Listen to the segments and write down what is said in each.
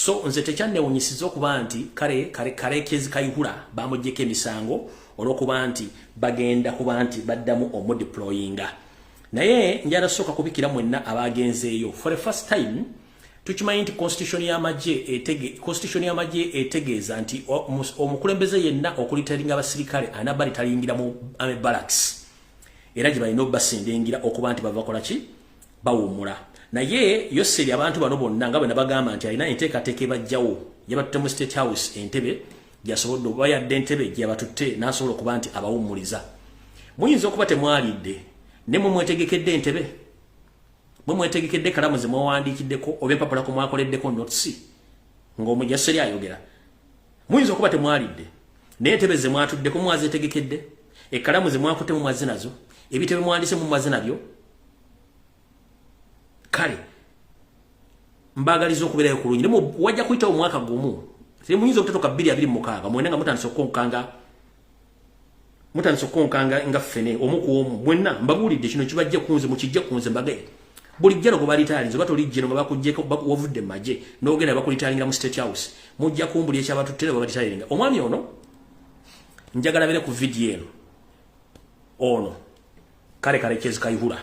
So nze tekyannewunyisiza okuba nti kale kale kale kezi kayihura bamujjeko emisango olwokuba nti bagenda kuba nti baddamu omudeployinga naye njala soka kubikira mwenna abagenzeeyo for the first time tukimanyi nti constitution y'amagye etege constitution y'amagye etegeeza nti omukulembeze yenna okulitalinga abasirikale anaba litayingira mu ame barracks era gye balina obasindingira okuba nti bavakola ki bawumula naye yoseri abantu bano bonna nga bwena bagamba nti alina enteekateeka ebajjawo yabatutte mu state house entebe gyasobodde oba yadde entebe gyeyabatutte n'asobola okuba nti abawummuliza muyinza okuba temwalidde ne mwe mwetegekedde entebe mwe mwetegekedde kalamu ze mwawandiikiddeko oba empapula ku mwakoleddeko notisi ng'omujaseri ayogera muyinza okuba temwalidde naye entebe ze mwatuddeko mwazeetegekedde ekkalamu ze mwakutemu mwazze nazo ebitebe mwandise mu mwazze nabyo kale mbagaliza okubeerayo ku lungi naye wajja kuyita omwaka gumu naye muyinza okutatoka bbiri abiri mukaaga mwena nga mutandisa okukonkanga mutandisa okukonkanga nga ffene omu ku omu mwenna mbabuulidde kino kibajja kunze mukijja kunze mbagaye buli jjano gwe balitalinze oba toli jjeno nga bakujjeko wavudde mu magye n'ogenda bakulitalingira mu state house mujja kumbuli ekyabatutte ne babalitalinga omwami ono njagala bere ku vidiyo eno ono kale kale kyezi kayihura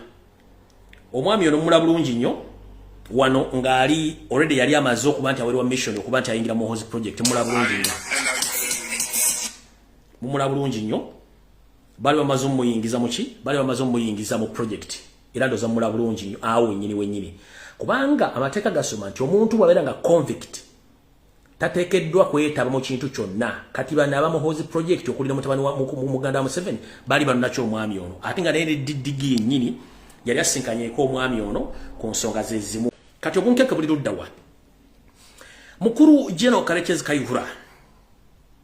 omwami ono mula bulungi nnyo wano ng'ali already yali amaze okuba nti awerwa mission okuba nti ayingira muhozi project mula bulungi nnyo mumula bulungi nnyo bali bamaze omuyingiza muki bali bamaze omuyingiza mu project era ndoza mula bulungi nnyo awo wenyini wenyini kubanga amateeka gasoma nti omuntu bwabeera nga convict tatekeddwa kwetaba mu kintu kyonna kati bano aba muhoozi project okuli ne mutabani wa muganda wa museveni bali banonaki omwami ono ate nga naye neddigi yennyini yali asinkanyeko omwami ono ku nsonga zezimu kati obunkeke buli luddawa mukulu general karekyezi kayihura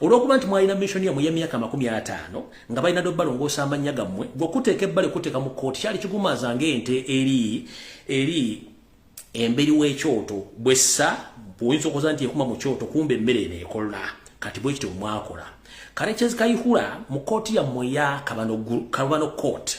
olwokuba nti mwalina mission yamwe ya myaka makumi ataano nga balina do balongoosa amannya gammwe gwokuteeka ebbale kuteeka mu kooti kyali kigumaza ng'ente eri eri emberi w'ekyoto bwessa bwoyinza okuza nti ekuma mu kyoto kumba emmere eno ekola kati bwe kityo mwakola kale kyezikayihula mu kooti yammwe ya kabano kooti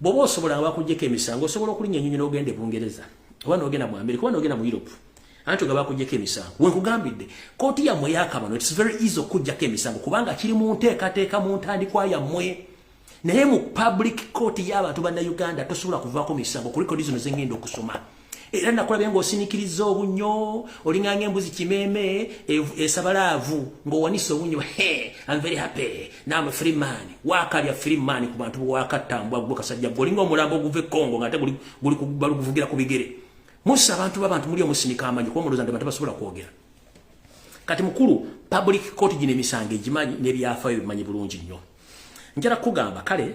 bwoba osobola nga bakujjeko emisango osobola okulinya enyonyi nogenda e bungereza oba nogenda mu amerika oba nogenda mu europe anti ogaba kujjako emisango wenkugambidde kooti yammwe yakabano its very easy okujjako emisango kubanga kiri mu nteekateeka mu ntandikwa yammwe naye mu public court y'abantu banna uganda tosobola kuvaako misango kuliko dizino zengenda okusoma era nakulabye ng'osinikiriza obunnyo olinganga embuzi kimeeme esabalaavu ng'owanisa obunnyo am very happy naam free man waakalya free man ku bantu bwewakattambwa gwe kasajja gwe olinga omulambo oguva e congo ng'ate balikuvugira ku bigere musa abantu babantu muli omusinika amanyi kuba muloza nti bantu basobola kwogera kati mukulu public court gino emisango egimanyi n'ebyafayo bimanyi bulungi nnyo njala kugamba kale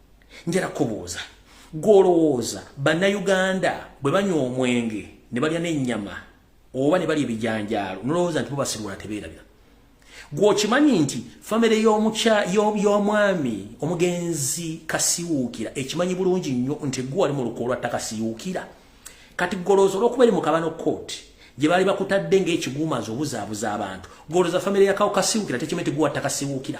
njala kubuuza gwolowooza bannayuganda bwe banywa omwenge ne balya n'ennyama oba ne balya ebijanjaalo nolowooza nti bubasirwala tebeerabira gwokimanyi nti famire y'omwami omugenzi kasiwuukira ekimanyi bulungi nnyo nti gwe wali mu lukoo lwa ttaka siwuukira kati golooza olwokuba eri mu kabano kooti gye baali bakutadde ng'ekiguumazi obuzaabuza abantu golooza famire ya kawo kasiwuukira tekimanyi nti gwe wattaka siwuukira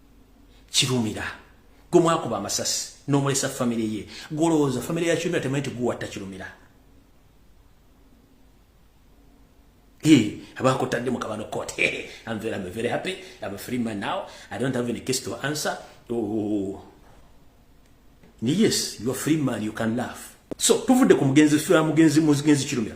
kirumira gwe mwakuba amasasi n'omulesa famire ye gwolowooza famire ya kirumira temanyi nti guwatta kirumira abakutadde mu kabano court I'm very, I'm very happy I'm a free man now I don't have any case to answer oh. oh, oh, oh. yes you're free man you can laugh so tuvudde ku mugenzi mugenzi mugenzi kirumira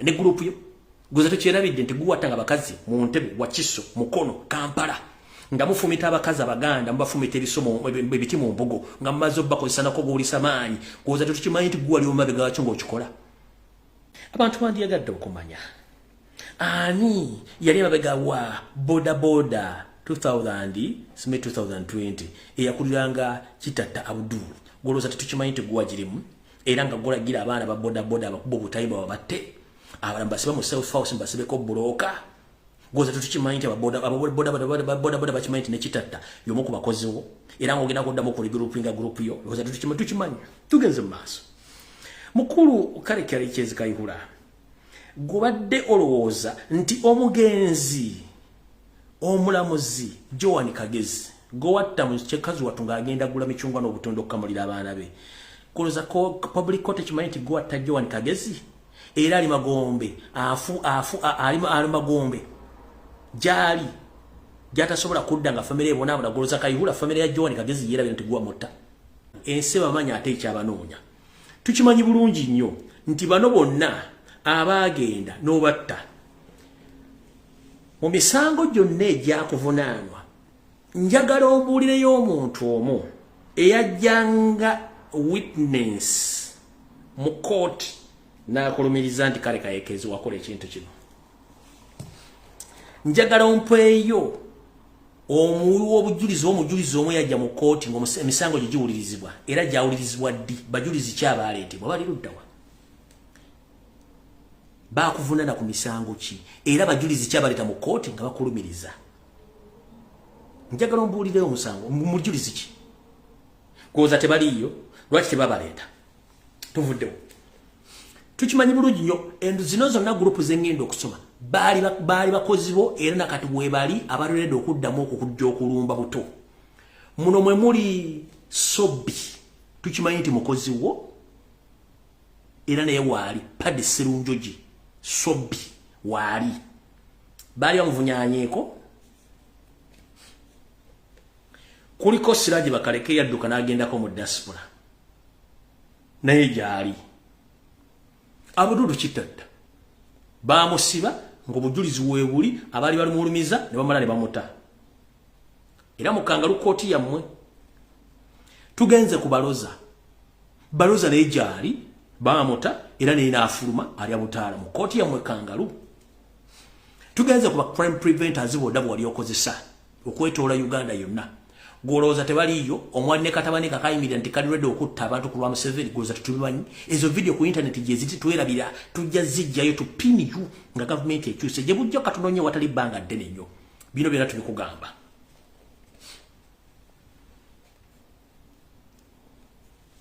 ne group yo guze tukyerabidde nti guwata nga bakazi mu ntebe wakiso mukono kampala nga mufumita abakazi abaganda mubafumita ebisomo ebiti mu mbugo nga mumaze obakozesanako buwulisa maanyi kuwoza tetukimanyi nti guwali omumabega wakyo ngaokikola abantu bandiyagadde okumanya ani yali emabega wa bodaboda 2000 sme 2020 eyakuliranga kitatta abdul gwolowooza tetukimanyi nti guwa girimu era nga gulagira abaana ba bodaboda abakuba obutayiba babatte abala mbasibe mu self house mbasibeko bulooka goza tetukimanyi nti ababodaboda bakimanyi nti nekitatta yomu ku bakoziwo era nga ogenda kuddamu okuli gurupu nga gurupu yo goza tetukimanyi tugenze mu maaso mukulu kale kyali kyezikayihula gubadde olowooza nti omugenzi omulamuzi joan kagezi gowatta mukyekazi watu ng'agenda gula micungwa n'obutunda okukamulira abaana be kuloza public court ekimanyi nti gowatta joan kagezi era ali magombe afu afu ali magombe gyali gyatasobola kudda nga famire ebonaabona goloza kayihula famire ya joan kagezi yeerabira nti gwa mutta ensi bamanya ate ekyabanoonya tukimanyi bulungi nnyo nti bano bonna abaagenda n'obatta mu misango gyonna egyakuvunaanwa njagala obuulireyo omuntu omu eyajjanga witness mu kooti n'akulumiriza nti kale kayekeezi wakola ekintu kino njagala ompeeyo omuwi w'obujulizi omujulizi omu yajja mu kkooti ng'emisango gye giwulirizibwa era gyawulirizibwa ddi bajulizi ki abaaleetebwa bali luddawa baakuvunana ku misango ki era bajulizi ki abaleeta mu kkooti nga bakulumiriza njagala ombuulireyo omusango mujulizi ki kwoza tebaliiyo lwaki tebabaleeta tuvuddewo tukimanyi bulungi nnyo endo zino zonna gurupu zengenda okusoma baali bakozi bo era nakati webali abalerede okuddamu okukujja okulumba buto muno mwe muli sobi tukimanyi nti mukozi wo era naye waali padi sirunjoji sobi waali baali bamuvunyanyeeko kuliko siraji bakaleke yadduka n'agendako mu diaspora naye gyali abududu kitatta baamusiba ng'obujulizi weebuli abaali balimulumiza ne bamala ne bamuta era mukangalu kooti yammwe tugenze ku baloza baloza naye gyali baamuta era naye naafuluma alya butaala mu kooti yammwe kangalu tugenze ku ba crime preventers boodabwa wali okozesa okwetoola uganda yonna gwolowooza tebaliiyo omwali ne katabani kakayimirira nti kali redi okutta abantu ku lwa museveni gwolowooza tetubimanyi ezo vidiyo ku intaneti gyeziti twerabira tujja zijjayo tupiniyu nga gavumenti ekyuse gye bujja katunonye watali bbanga ddene nnyo bino byona tubikugamba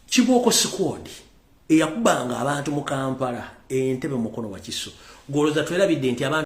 kibooko sikwodi eyakubanga abantu mu kampala entebe mukono wakiso gwolowooza twerabidde nti abantu